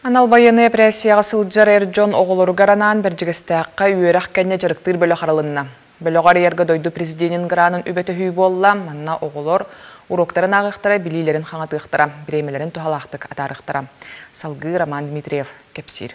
Анал байыаннай эпэрээссийэҕэ сылдьар эр дьон оҕолоругар анаан Бэрдьигэстээххэ үөрэх кэннэ дьарыктыыр бөлөх арылынна. Бөлөх арыйарга дойду президенин гранын үбэ-төһүү буолла, манна оҕолор уруоктарын ааҕыахтара, билиилэрин хаҥатыахтара, бириэмэлэрин туһалаахтык атаарыахтара. Салгыы Роман Дмитриев кэпсиир.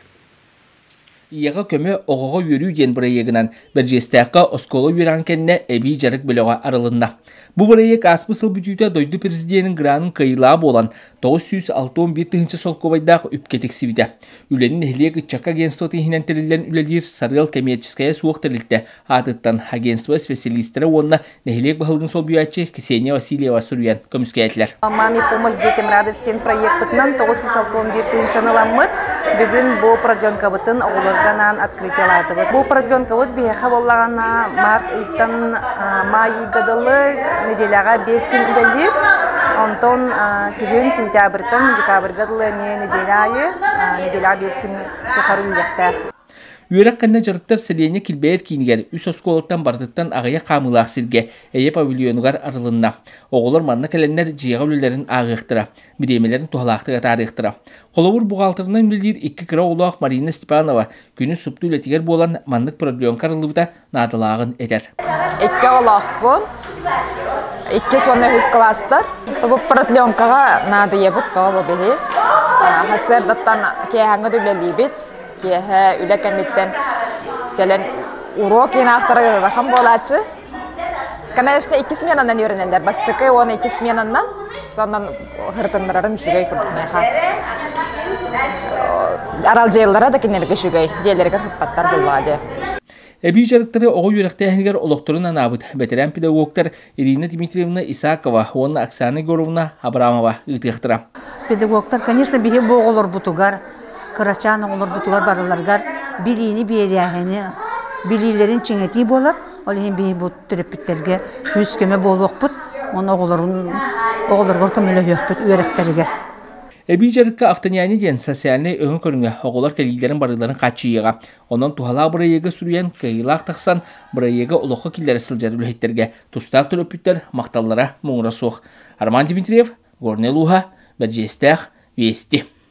Ийэҕэ көмө, оҕоҕо үөрүү диэн бырайыагынан Бэрдьиэстээххэ оскуола үөрэҕин кэннэ эбии дьарык бөлөҕө арылынна. Бу бырайыак ааспыт сыл бүтүүтэ дойду президенин гранын кыайыылаах буолан, 961 тыһыынча солкуобайдаах үпкэ тиксибитэ. Үлэни нэһилиэк ыччакка агентство иһинэн тэриллэн үлэлиир Сарыал кэмиэрчэскэйэ суох тэрилтэ аатыттан агентство специалистара уонна Нэһилиэк баһылыгын солбуйааччы Ксения Васильева суруйан көмүскээтилэр. «Маме помощь детям радость» диэн проекпытынан тоҕус сүүс алта уон биир тыһыынчаны ыламмыт. Бүгүн бу продленкабытын оҕолорго анаан открытиялаатыбыт. Бу продленкабыт биһиэхэ буоллаҕына март ыйтан май ыйга дылы нэдиэлэҕэ биэс күн үлэлиир. Онтон күһүн сентябрьтан декабрьга дылы эмиэ нэдиэлэ аайы нэдиэлэҕэ биэс күн тухары үлэлиэхтээх. Үөрэх кэннэ дьарыктар сэлиэнньэ килбэйэр киинигэр, үс оскуолаттан барытыттан аҕыйах хаамыылаах сиргэ, эйэ павильонугар арылынна. Оҕолор манна кэлэннэр дьиэҕэ үлэлэрин ааҕыахтара, бириэмэлэрин туһалаахтык атаарыахтара. Холобур, буҕаалтырынан үлэлиир икки кыра оҕолоох Марина Степанова күнүс супту үлэтигэр буолан, маннык продленка арыллыбыта наадалааҕын этэр. Икки оҕолоохпун. Иккис уонна үһүс кылаастар. Тобу протленкаҕа наадыйабыт тоолу били. Хасыардаттан киэһэҥҥэ үлэлиибит. Киэһэ үлэ кэнниттэн кэлэн уруок инаахтара ырахан буолааччы. Конечно, икки сменанан үөрэнэллэр бастакы уонна икки сменанан. Соннон хырытыннарарым үчүгэй курдук меха. Аралдьыйыллара да кинилэргэ үчүгэй. Диэлэригэр сыппаттар буллаа дьэ. Эбии дьарыктары оҕо үөрэхтээһинигэр олохторун анаабыт бэтэрээн педагогтар Ирина Дмитриевна Исакова уонна Оксана Егоровна Абрамова ыытыахтара. Педагогтар, конечно, биһи бу оҕолорбутугар, кырачаан оҕолорбутугар барыларыгар билиини биэрээһини билиилэрин чиҥэтии буолар. Ол иһин биһи бу төрөппүттэргэ күүс-көмө буолуохпут уонна оҕолорун оҕолоругар көмөлөһүөхпүт үөрэхтэригэр. Эбии дьарыкка автоняние диэн социальнай өҥө көрүҥэ оҕолор кэлиилэрин барыыларын хааччыйыыга, Онон туһалаах бырайыагы суруйан, кыайыылаах тахсан, бырайыага олоххо киллэрэ сылдьар үлэһиттэргэ тустаах төлөпүттэр махталлара муҥура суох. Роман Дмитриев, Горнай улууһа, Бэрдьиэстээх, Вести.